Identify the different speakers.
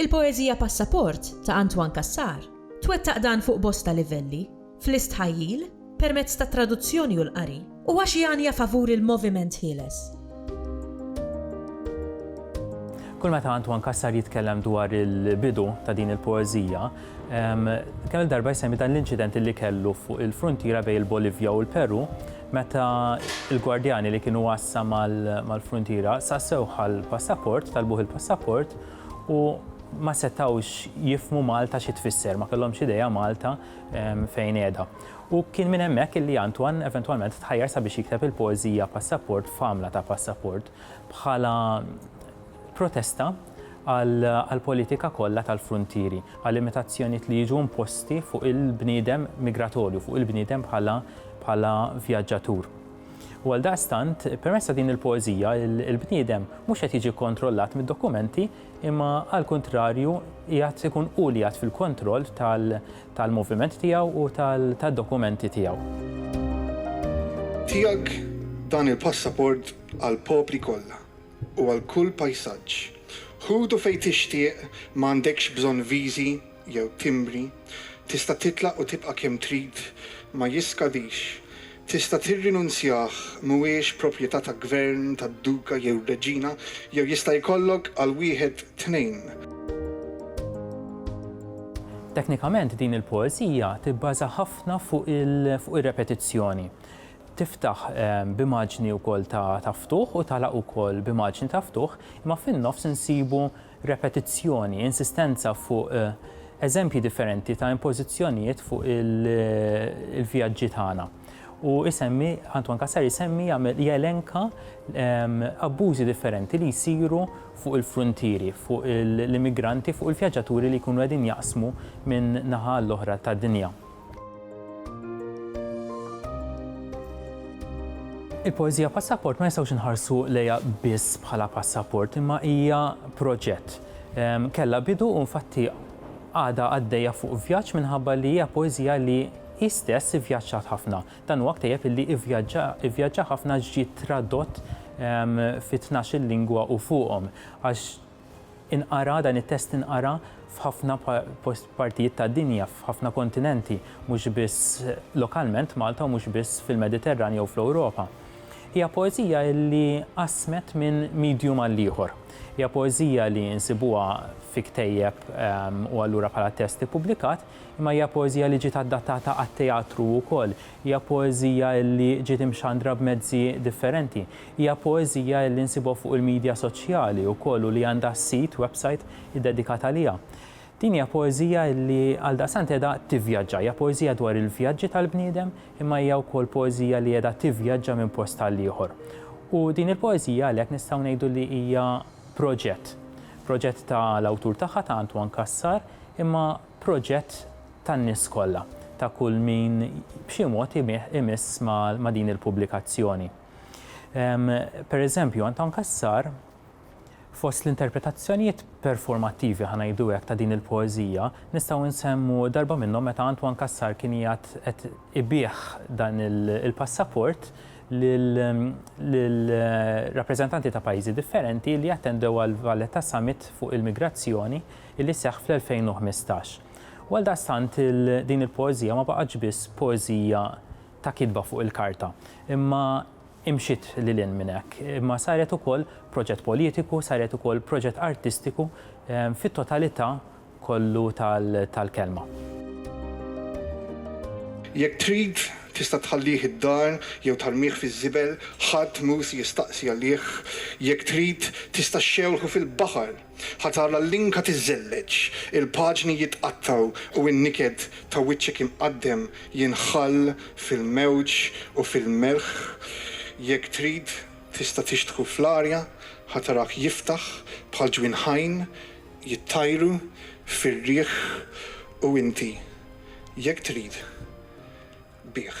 Speaker 1: Il-poeżija Passaport ta' Antoine Cassar twettaq dan fuq bosta livelli, fl-istħajjil, permezz tat-traduzzjoni u l-qari, u għax jgħanja favur il-moviment ħieles.
Speaker 2: Kull meta Antoine Cassar jitkellem dwar il-bidu ta' din il-poeżija, kemm il-darba jsemmi dan l-inċident li kellu fuq il-fruntiera bejn il-Bolivja u l-Peru, meta il-gwardjani li kienu għassa mal-fruntiera sassew għall-passaport, talbuh il-passaport, u ma setgħux jifmu Malta xi tfisser, ma kellhomx idea Malta fejn qiegħda. U kien minn hemmhekk illi Antoine eventwalment tħajjar sabiex jikteb il-poeżija Passaport f'għamla ta' passaport bħala protesta għall-politika kollha tal-fruntieri, għal-limitazzjonijiet li jiġu imposti fuq il-bniedem migratorju, fuq il-bniedem bħala vjaġġatur. U għaldaqstant, permezz ta' din il-poeżija, il-bniedem mhux qed jiġi kkontrollat mid-dokumenti, imma għall-kuntrarju qiegħed ikun hu li qiegħed fil-kontroll tal-moviment tiegħu u tad-dokumenti tiegħu.
Speaker 3: Tiegħek dan il-passaport għall-popli kollha u għal kull pajsaġġ. Ħudu fejn tixtieq, ma għandekx bżonn viżi jew timbri, tista' titlaq u tibqa' kemm trid, ma jiskadix, tista' tirrinunzjah, mhuwiex proprjetà ta' gvern, ta' duka jew reġina, jew jista' jkollok għal wieħed tnejn.
Speaker 2: Teknikament din il-poeżija tibbaża ħafna fuq ir-repetizzjoni. Tiftaħ b'immaġni wkoll ta' ftuħ u tagħlaq ukoll b'immaġni ta' ftuħ, imma fin-nofs insibu repetizzjoni, insistenza fuq eżempji differenti ta' impożizzjonijiet fuq il-vjaġġi tagħna. U isemmi, Antoine Cassar isemmi jagħmel jelenka ehm, abbużi differenti li jsiru fuq il-fruntieri, fuq l-immigranti, fuq il-vjaġġaturi li jkunu qegħdin jaqsmu minn naħa l-oħra tad-dinja. Il-poeżija passaport ma nistgħux inħarsu lejha biss bħala passaport, imma hija proġett. Ehm, Kella bidu u infatti għada għaddejja fuq vjaġġ minħabba li hija poeżija li istess ivvjaġġat ħafna. Dan huwa ktejjeb li ivvjaġġa ħafna ġiet tradott ehm, fi 12 lingwa u fuqhom. Għax Inqara, dan it-test inqara f'ħafna partijiet tad-dinja, f'ħafna kontinenti, mhux biss lokalment Malta u mhux biss fil-Mediterran jew fl-Ewropa. Hija poeżija li qasmet minn medium għall-ieħor. Hija poeżija li nsibuha fi ktejjeb u allura bħala test ippubblikat, imma hija poeżija li ġiet adattata għat-teatru wkoll. Hija poeżija illi ġiet imxandra b'mezzi differenti. Hija poeżija illi nsibuha fuq il-midja soċjali wkoll u li għandha sit, website, iddedikat għaliha. Din hija poeżija illi għaldaqstant qiegħda tivvjaġġa. Hija poeżija dwar il-vjaġġi tal-bniedem imma hija wkoll poeżija li qiegħda tivvjaġġa minn post għall-ieħor. U din il-poeżija għalhekk nistgħu ngħidu li hija proġett. Proġett ta' l-awtur tagħha, ta' Antoine Cassar, imma proġett tan-nies kollha, ta' kull min b'xi mod imiss ma' din il-pubblikazzjoni. Per eżempju, Anton Cassar, fost l-interpretazzjonijiet performattivi, ħa ngħidu hekk, ta' din il-poeżija, nistgħu nsemmu darba minnhom meta Antoine Cassar kien qiegħed qed ibigħ dan il-passaport lil rappreżentanti ta' pajjiżi differenti li attendew għall-Valletta Summit fuq il-migrazzjoni li seħħ fl-2015. U għaldaqstant din il-poeżija ma baqgħetx biss poeżija ta' kitba fuq il-karta, imma imxiet lil hinn minn hekk, imma saret ukoll proġett politiku, saret ukoll proġett artistiku fit-totalità kollu tal-kelma.
Speaker 3: Jekk trid, tista' tħallih id-dar jew tarmih fiż-żibel, ħadd mhu se jistaqsi għalih. Jekk trid, tista' xxewħu fil-baħar. Ħa tara l-linka tiżżelleġ, il-paġni jitqattgħu u n-niket ta' wiċċek imqaddem jinħall fil-mewġ u fil-melħ. Jekk trid, tista' tixtħu fl-arja, ħa tarah jiftaħ bħal ġwien ħajn, jittajru fir-riħ u inti, jekk trid, bih.